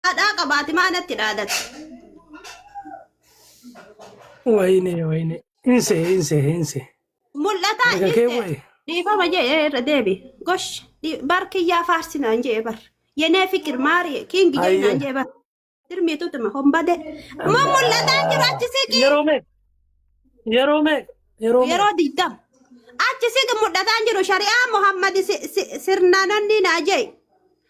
Haadhaa qabaati maa natti dhaadatti. Wayne wayne. Inse inse inse. Mul'ataa Daga kee dhiiste. wayi. Dhiifama jedhee irra deebi. Gosh dhi- bar kiyyaa faarsinaan jedhee bar. Yenee fikir maarii kiingi Ayyo. jennaan jedhee bar. Dirmiitu tuma hombade. Ma mul'ataa jiru achi siqi. Yeroo mee. Yeroo mee. Yeroo mee. Yeroo digdam. Achi siqi mul'ataan jiru shari'aa Muhammad si- si- sirnaanonni naa jee.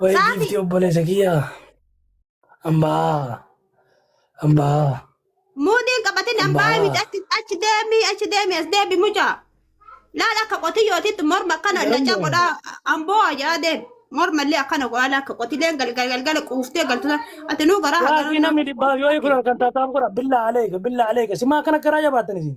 Wayii Saafi. giiftii obboleessa kiyyaa. Ambaa. Ambaa. Muudiin qabatin ambaa Ambaa. miti achi achi deemi achi deemi as deebi muca. Laala akka qotiyyootitti morma akkana Garuu- naca godha amboo ajaa deem. Morma illee akkana godha laala akka qotileen galgal galgala quuftee galtu ati nuu garaa Yaa hagaraa. sii namni dhibbaa yoo hiikunan kan taataan godha billaa aleeka billaa aleeka simaa kana garaa jabaatan isin.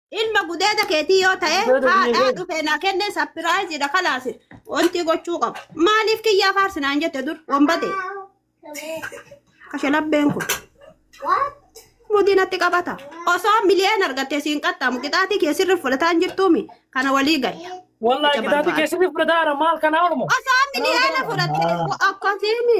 Ilma gudeeda keetii yoo ta'e Gudeeda biyya haadhaa keenya. dhufee naa kennee sapiraayiziidha kalaasi. Wanti gochuu qabu. Maaliif kiyyaa faarsi naan jette dur wombate. Kashalabbeen kun. Mudii natti qabata. Osoo miliyeen argattee siin qaxxaamu qixaatii kee sirri fudhataan jirtuumi kana walii galla. Wallahi Mucaa kitaabni barbaada. keessatti fudhataara maal kanaa oromoo. Osoo miliyoona fudhattee akkasiimi.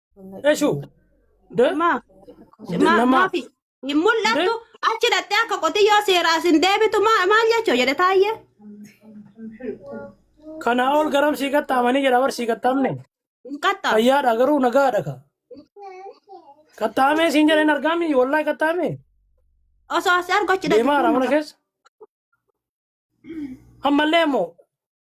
Eshu. De. Ma, De ma, nama. maafi hin De. mul'attu achi dhattee akka qotiyyoo seeraas hin deebitu ma- maal jechuu jedhe taayyee. Kana ol garam sii qaxxaamanii jedha bar sii qaxxaamne. Hin qaxxaamne. Fayyaadha garuu nagaadha ka. Qaxxaamee siin jedheen argaami wallahi qaxxaamee. Osoo asii argu achi dhaqe Deemaa kun mana keessa. Ammallee immoo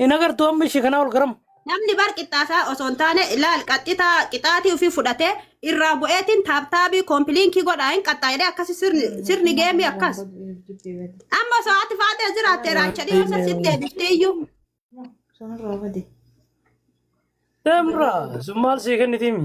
Hin agartuu amma ishee kanaa ol garam. Namni bar qixxaasaa osoo hin taane ilaal qaxxitaa qixaatii ofii fudhatee irraa bu'eetiin taaptaabii koompiliinkii godhaa hin qaxxaa'ilee akkasi sirni sirni geemii akkas. Amma osoo ati faatee jiraatte raacha dhiyoo san sitti deebiftee iyyuu. Demra sun maal sii kennitiimi.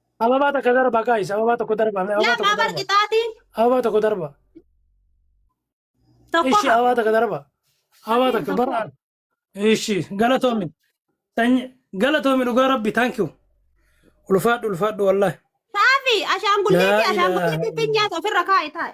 Ababaa takka darbaa gaayis ababaa tokko darbaa mee ababaa tokko Lama darbaa barqixaatiin ababaa tokko darbaa tokko ishii hafa. ababaa takka darbaa ababaa takka bara ishii galatoomi sanyi galatoomi dhugaa rabbi thank you ulfaadhu ulfaadhu wallahi Saafi ashaangulliitii Laa ilaaha ashaangulliitii ittiin nyaata ofirra kaa'i taa'i.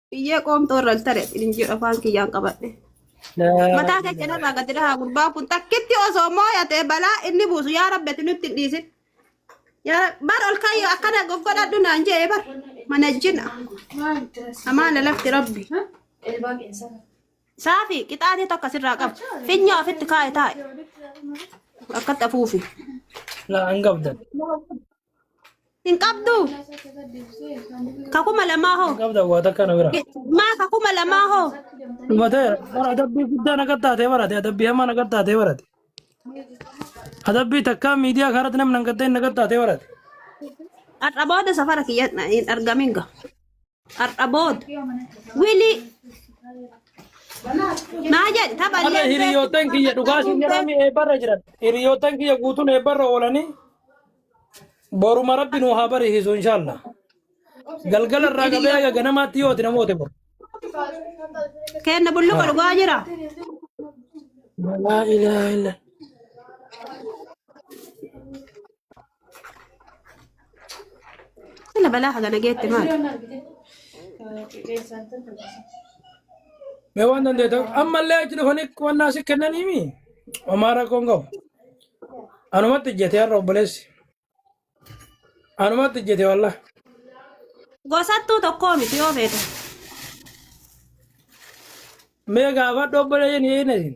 Biyyee qoomtoo irra hin tare hin jedhu afaan kiyyaan qabadhe. Mataa kee cinarraa gadi dhahaa gurbaa kun takkitti osoo mooyatee balaa inni buusu yaa rabbi ati nutti hin dhiisin. Yaa Rabbi, bar ol kayyoo akkana goggodhadhu naan jee bar mana jina amaana lafti rabbi. Saafi qixaatee tokko asirraa qaba. Finya ofitti kaa'e taa'e. Akkatti afuufi. Laa hin qabdan. Hin qabdu. Ka kuma lamaa hoo. qabda waa takka na bira Maa ka kuma lamaa hoo. dhumatee bara adabbii guddaa naga taatee barate adabbii hamaa naga taatee barate adabbii takkaa miidiyaa kanarratti namni hin gaddain naga taatee barate Har'a booda safara kiyya hin argamin ga. Har'a booda. Wili. Maa jedhe tapha Har'a illee hiriyoottan kiyya dhugaa siin jedhame eebbarra jiran. Hiriyoottan kiyya guutuun eebbarra oolanii boruma rabbi nu haa bariisisu inshaallah. Galgala irraa qabee haga ganamaatti yooti namoota bor. kenna bulluqa dhugaa jira. Laa ilaaha illa. Sila balaa hagana geette maal? Mee waan dandeettan ammallee achi dhufanii qonnaa si kennaniimi. Homaa rakkoon qabu. Anumatti ijjete har'a obboleessi. Anumatti ijjete wallah. Gosattuu tokkoo miti yoo feete. Mee gaafadhu obboleeyyan hin eegnesin.